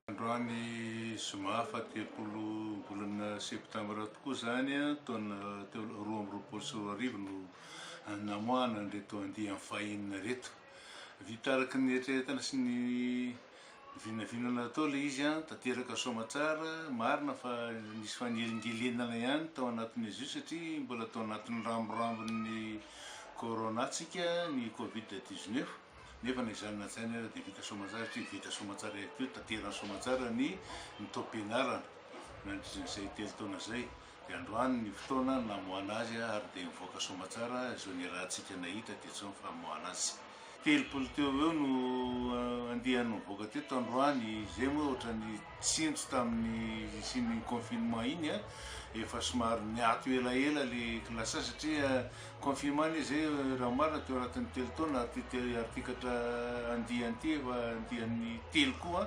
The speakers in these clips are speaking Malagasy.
Androany zoma fahatelopolo volana septambra tokoa izany taona roa amby roapolo sy roa arivo no namoahana an'ireto andiany fahiny ireto. Vita araka ny eritreretana sy ny Vinavinana tao ilay izy an! Tanteraka soamatsara, marina fa nisy fanelingelenana ihany tao anatin'izy io satria mbola tao anatin'ny ramborambon'ny Corona tsika, ny covid dix neuf, nefa na izany na izany ary dia vita soamatsara satria vita soamatsara ihany koa, tanterany soamatsara ny ny taom-pianarana nandritran'izay telo taona izay. Dia androany ny fotoana namoahana azy ary dia mivoaka soamatsara izao ny rahantsika nahita dia tsy ny famoahana azy. Telopolo teo ho eo no andiany nivoaka teto androany, izay moa ohatran'ny tsindry tamin'ny hisian'ny confinement iny, efa somary niato elaela ilay classe satria Confirmant izy hoe raha marina teo anatin'ny telo taona ary ity te- artikatra andiany ity efa andiany telo koa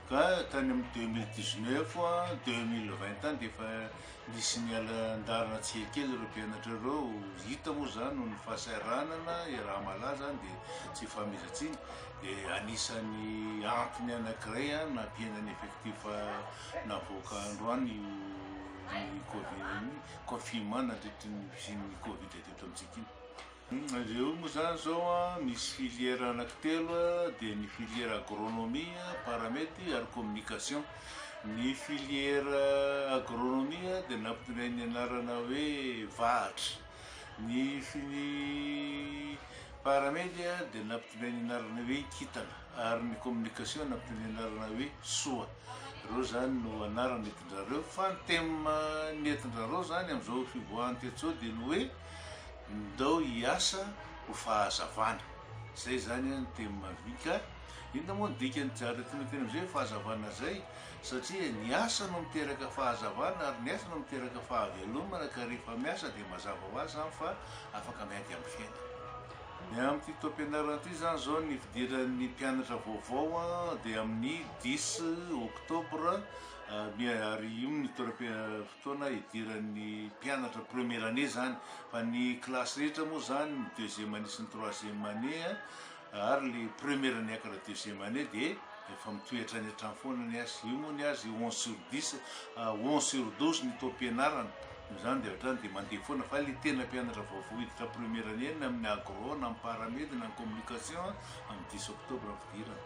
ka tany amin'ny 2019 a, 2020 any dia efa nisy niala an-dalana tsihy kely ireo mpianatra ireo hita moa izany noho ny fahasahiranana iaraha-malaza any dia tsy ifahamezan-tsiny dia anisan'ny antony anankiray a, nampihenana effectif navoaka androany io ny covid io confinement nandritry ny fisian'ny covid teto amintsika iny. Ireo moa zany izao an, misy filière anankitelo dia ny filière agronomie, paramety ary communication. Ny filière agronomie dia nampitonain'ny anarana hoe vahatra. Ny fini paramety dia nampitonain'ny anarana hoe kintana ary ny communication nampitonain'ny anarana hoe soa. Ireo zany no anarana Ndrareo fa ny thème nentindrareo zany amzao fivoahany tetsao dia ny hoe ndao hiasa ho fahazavana zay zany an ny thème vy ka inona moa ny dikany jareo tena tena amzay fahazavana zay satria ny asa no miteraka fahazavana ary ny asa no miteraka fahavelomana ka rehefa miasa dia mazava ho azy zany fa afaka miady am fiainana Ny amin'ity taom-pianarana ity izany izao ny fidiran'ny mpianatra vaovao dia amin'ny dix octobre Bien, ary io ny toeram-fotoana idiran'ny mpianatra première année zany, fa ny classe rehetra moa zany ny deuxième année sy ny troisième année a, ary le première niakatra deuxième année dia efa mitohy hatrany hatrany foana ny azy, io moa ny azy onze sur dix, onze sur douze ny taom-pianarana, noho izany dia hatrany dia mandeha foana, fa le tena mpianatra vaovao hiditra première année ny amin'ny agro na amin'ny paramed na ny communication a, amin'ny dix octobre ny fidirana.